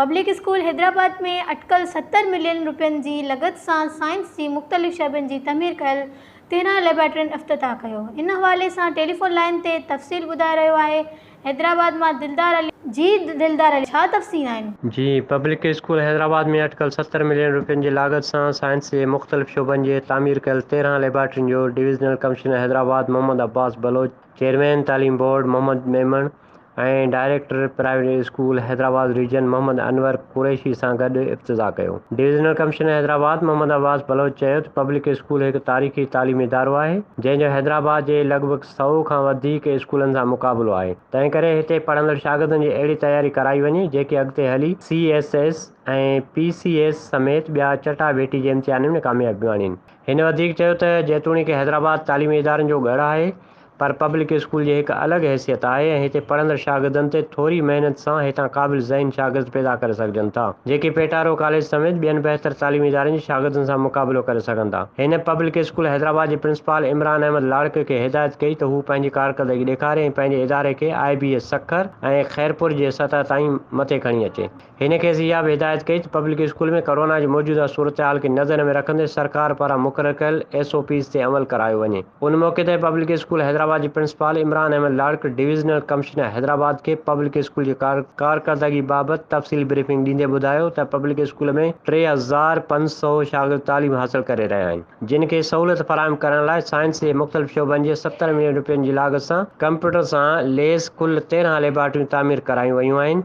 Public school Hyderabad ۾ اٽڪل ستر million روپين جي لڳت سان سائنس جي مختلف شعبن جي تعمير ڪيل تيرهن ليبارٽرين افتتاح ڪيو ان حوالي سان ٽيليفون لائين تي تفصيل ٻڌائي رهيو آهي حيدرآباد مان دلدار علي. جي دلدار علي ڇا تفصيل آهن. جي پبلڪ اسڪول حيدرآباد ۾ اٽڪل ستر ملين روپين جي لاڳت سان سائنس جي مختلف شعبن جي تعمير ڪيل تيرهن ليبارٽرين جو divisional commissioner Hyderabad Muhammad Abbas Baloch chairman تعليم board Muhammad Memon ۽ director private school Hyderabad region Muhammad Anwar Qureshi سان گڏ افتتاح ڪيو. ڊويزنل ڪمشنر حيدرآباد محمد عباس بلوچ چيو ته پبلڪ اسڪول هڪ تاريخي تعليمي ادارو آهي، جنهن جو حيدرآباد جي لڳ ڀڳ سؤ کان وڌيڪ اسڪولن سان مقابلو آهي، تنهن ڪري هتي پڙهندڙ شاگردن جي اهڙي تياري ڪرائي وڃي، جيڪي اڳتي هلي C S S ۽ P C S سميت ٻيا چٽا ڀيٽي جي امتحانن ۾ ڪاميابيون آڻين. هن وڌيڪ چيو ته جيتوڻيڪ حيدرآباد تعليمي ادارن جو ڳڙهه آهي پر پبلڪ اسڪول جي هڪ الڳ حيثيت آهي ۽ هتي پڙهندڙ شاگردن تي ٿوري محنت سان هتان قابل ذهن شاگرد پيدا ڪري سگهجن ٿا جيڪي پيٽارو ڪاليج سميت ٻين بهتر تعليمي ادارن جي شاگردن سان مقابلو ڪري سگهن ٿا. هن پبلڪ اسڪول حيدرآباد جي پرنسپال عمران احمد لاڙڪ کي هدايت ڪئي ته هو پنهنجي ڪارڪردگي ڏيکاري ۽ پنهنجي اداري کي I B S Sukkur ۽ Khairpur جي سطح تائين مٿي کڻي اچي. هن کيس اها به هدايت ڪئي ته پبلڪ اسڪول ۾ ڪورونا جي موجوده صورتحال کي نظر ۾ رکندي سرڪار پاران مقرر ڪيل ايس او پيز تي عمل ڪرايو وڃي. ان موقعي تي پبلڪ اسڪول حيدرآباد جي principal Imran Ahmed Larik divisional commissioner Hyderabad کي پبلڪ اسڪول جي ڪارڪردگي بابت تفصيلي بريفنگ ڏيندي ٻڌايو ته پبلڪ اسڪول ۾ ٽي هزار پنج سؤ شاگرد تعليم حاصل ڪري رهيا آهن جن کي سهولت فراهم ڪرڻ لاء سائنس جي مختلف شعبن جي ستر ملين رپين جي لاڳت سان ڪمپيوٽر سان ليس ڪل تيرهن ليبارٽريون تعمير ڪرايون ويون آهن